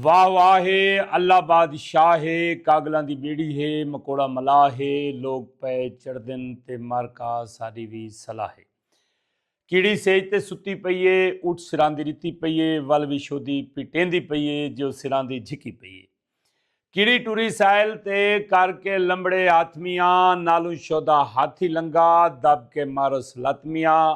واہ واہ ہے اللہ بادشاہ ہے کاگلاں دی بیڑی ہے مکوڑا ملاح ہے لوگ پئے چڑھدن تے مر کا ساڈی وی صلاح ہے کیڑی سیج تے ستی پئی ہے اٹھ سراندی رتی پئی ہے ول وی شودی پیٹیندی پئی ہے جو سراندی جھکی پئی ہے کیڑی ٹری سائل تے کر کے لمبڑے ہاتھ میاں نالوں شودا ہاتھی لنگا دب کے مارس لت میاں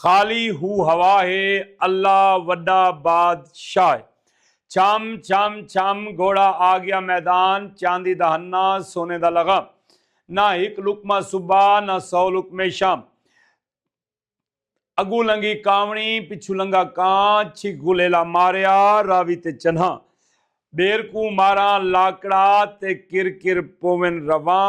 خالی ہو ہوا ہے اللہ وڈا باد شاہ ہے چھم چھم چھم گھوڑا آگیا میدان چاندی دا ہنہ سونے دا لغام نہ ہک لقمہ صبح نہ سو لقمے شام اگوں لنگھی کاوݨی پچھوں لنگھا کاں چھک غلیلا ماریا راوی تے چنہاں ٻیر کوں ماراں لاکڑا تے کر کر پوون رواں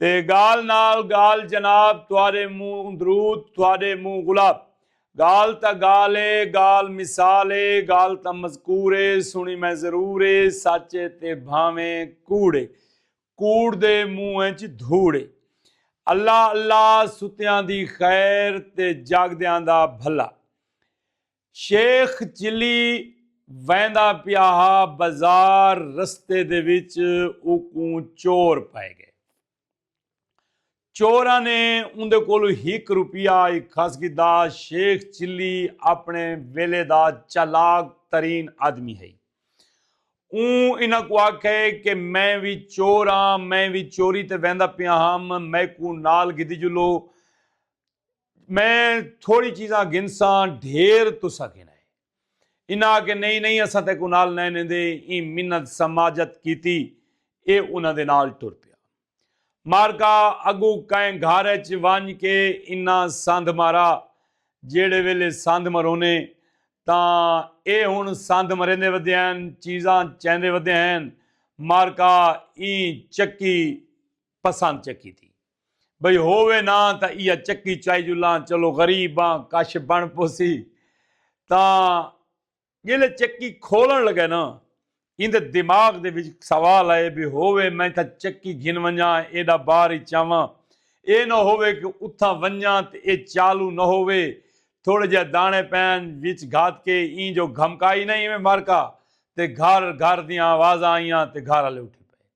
تے گال نال گال جناب تہاڈے منہ درود تہاڈے منہ گلاب گال تاں گال اے گال مثال اے گال تاں مذکور اے سنڑی میں ضرور اے سچ اے تے بھانویں کوڑ اے کوڑ دے منہ اچ دھوڑ اے اللہ اللہ ستیاں دی خیر تے جاگدیاں دا بھلا شیخ چلی ویندا پیا ہا بازار رستے دے وچ اوکوں چور پئے گئے۔ چوراں نے اوندے کولوں ہک روپیہ اکھس گھدا۔ شیخ چلی اپݨے ویلے دا چالاک ترین آدمی ہئی۔ اوں انہاں کوں آکھئے کہ میں وی چور آں، میں وی چوری تے ویندا پیا ہم، میکوں نال گھدیجلو۔ میں تھوڑی چیزاں گھنساں ڈھیر تساں گھن آئے۔ انہاں آکھیا نہیں نہیں اساں تیکوں نال نئیں نیندے ایں منت سماجت کیتی اے انہاں دے نال ٹر پیا۔ مارکا اگوں کئیں گھر اچ ونج کے انہاں سندھ مارا جیڑھے ویلے سندھ مرونے تاں اے ہن سندھ مریندے ودے ہین چیزاں چیندے ودے ہین مارکا ایں چکی پسند چکی تھی۔ بھئی ہووے نا تاں ایہا چکی چائی جو لاں چلو غریب آں کش بݨ پوسی تاں جیلھے چکی کھولݨ لگے نا ایندے دماغ دے وچ سوال آئے بھئی ہووے میں تاں چکی گھن ونجاں ایڈا بار ای چاواں اے نہ ہووے کہ اتھاں ونجاں تے اے چالو نہ ہووے تھوڑے جیہے داݨے پئن وچ گھت کے ایں جو گھمکائی نا ایویں مارکا تے گھر گھر دیاں آوازاں آئیاں تے گھر آلے اٹھی پئے۔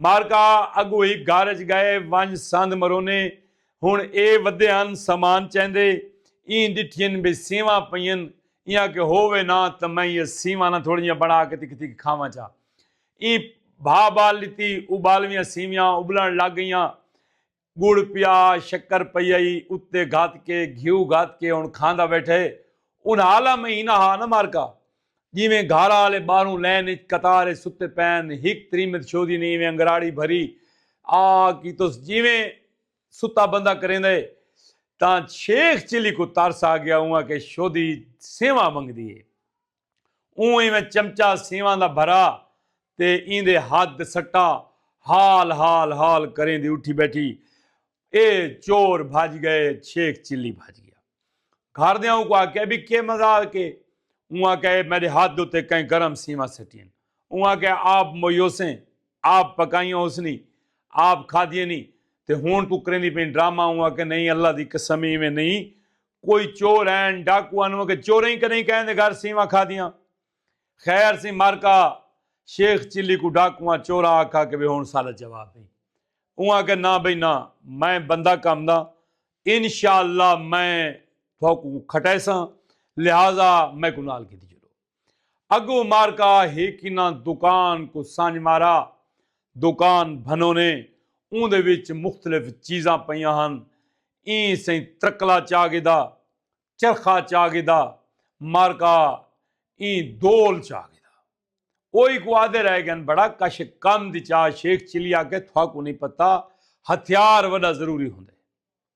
مارکا اگو ہک گھر اچ گئے ونج سندھ مرونے ہن اے ودے ہن سامان چیندے ایں ڈٹھین بھئی سیواں پئین ایں آکھے ہو وے نا تاں میں ایہ سیواں نا تھوڑی جیاں بنا کے تکھ تکھ کھاواں چا ایں بھا بال ڈتی ابالویاں سیویاں ابلن لگ گئیاں گڑ پیا شکر پئی آئی اتے گھت کے گھیو گھت کے ہن کھاندا بیٹھے انہاں آلا مہینہ ہا نہ مارکا جیویں گھارا آلے باہروں لین اچ قطار اچ ستے پین ہک تریمت شودی نے ایویں انگراڑی بھری آ کیتس جیویں ستا بندہ کریندے تاں شیخ چلی کوں ترس آ گیا اونہاں کے شودی سیواں منگدی اے۔ اوں ایویں چمچا سیواں دا بھرا تے ایندے ہتھ تے سٹا ہال ہال ہال کریندی اٹھی بیٹھی اے چور بھج گئے چھیک چلی بھج گیا گھر دیاں اوں کو آکھیا بی کے مزال کے اوں آکھیا اے میڈے ہتھ اتے کہیں گرم سیواں سٹین اوں آکھیا آپ مویوسیں آپ پکائیاں ہوسنی آپ کھادیے نی تے ہن توں کریندی پئیں ڈرامہ اوں آکھیا نہیں اللہ دی قسم ایویں نہیں کوئی چور ہین ڈاکو ہن اوکے چوریں کدیں کہیں دے گھر سیواں کھادیاں خیر سی مارکا شیخ چلی کوں ڈاکواں چوراں آکھا کہ وے ہن ساڈا جواب ہئی اوں آکھیا نہ بھئی نہ میں بندہ کم دا انشاءاللہ میں تھوکوں کھٹیساں لہذا میکوں نال گھدی چلو۔ اگو مارکا ہی کناں دکان کوں سنج مارا۔ دکان بھنونے۔ اوں دے وچ مختلف چیزاں پئیاں ہن۔ ایں سئیں ترکلا چا گھدا۔ چرخا چا گھدا۔ مارکا ایں دول چا گھدا۔ اوہی کوں آدھے رہ گن بڑا کش کند چا شیخ چلی آکھے تھوا کوں نی پتہ ہتھیار وڈا ضروری ہوندے۔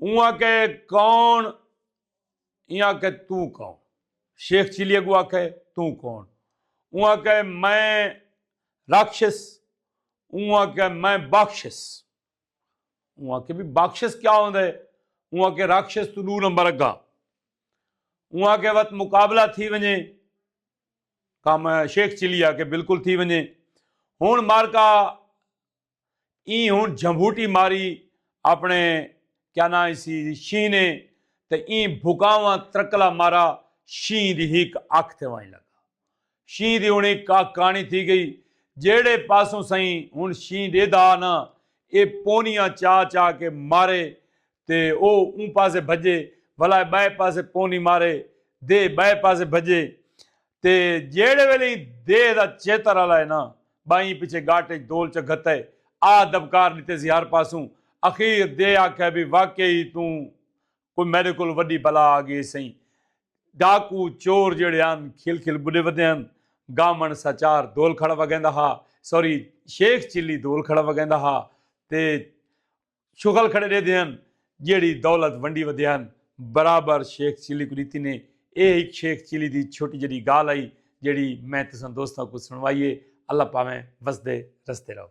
اوں آکھے کون ایں آکھے توں کون شیخ چیلی اگو آکھے توں کون اوں آکھے میں راکشس اوں آکھے میں باکشس اوں آکھے بھی باکشس کیا ہوں دے اوں آکھے راکشس تو دو نمبر اگا اوں آکھے وقت مقابلہ تھی ونجے کام شیخ چیلی آکھے بالکل تھی ونجے ہون مارکا ایں ہن جھمبوٹی ماری اپنے کیا ناں اسی شینہ نے تے ایں بھکاواں ترکلا مارا شینہ دی ہک اکھ تے ونڄ لڳا۔ شینہ دی ہن ہک اکھ کاݨی تھی ڳئی۔ جہڑے پاسوں سئیں ہن شینہ ݙیہدا ہا ناں ایہ پونیاں چا چا کے مارے تے او اوں پاسے بھڄے، ولا ایہ ٻئے پاسے پونی مارے دے ٻئے پاسے بھڄے۔ تے جیہڑے ویلے ایں دیہہ دا چیتر الائے نہ بائیں پچھے گاٹ اچ دول چا گھتئے آ دبکار ڈتے سی ہر پاسوں اخیر دیہہ آکھئے بی واقعی ای توں کوئی میڈے کول وڈی بلا آ گئی سئیں ڈاکو چور جیہڑے ہن کھل کھل بڈے ودے ہن گامن سا چار دول کھڑا وگیندا ہا سوری شیخ چلی دول کھڑا وگیندا ہا تے شغل کھڑے ڈیدے ہن جیڑھی دولت ونڈی ودے ہن برابر شیخ چیلی کوں ڈیتی نے اے ہک شیخ چیلی دی چھوٹی جڈی گالھ ہئی جیڑھی میں تساں دوستاں کوں سنڑوائی ہے اللہ پاویں وسدے رسدے رہو۔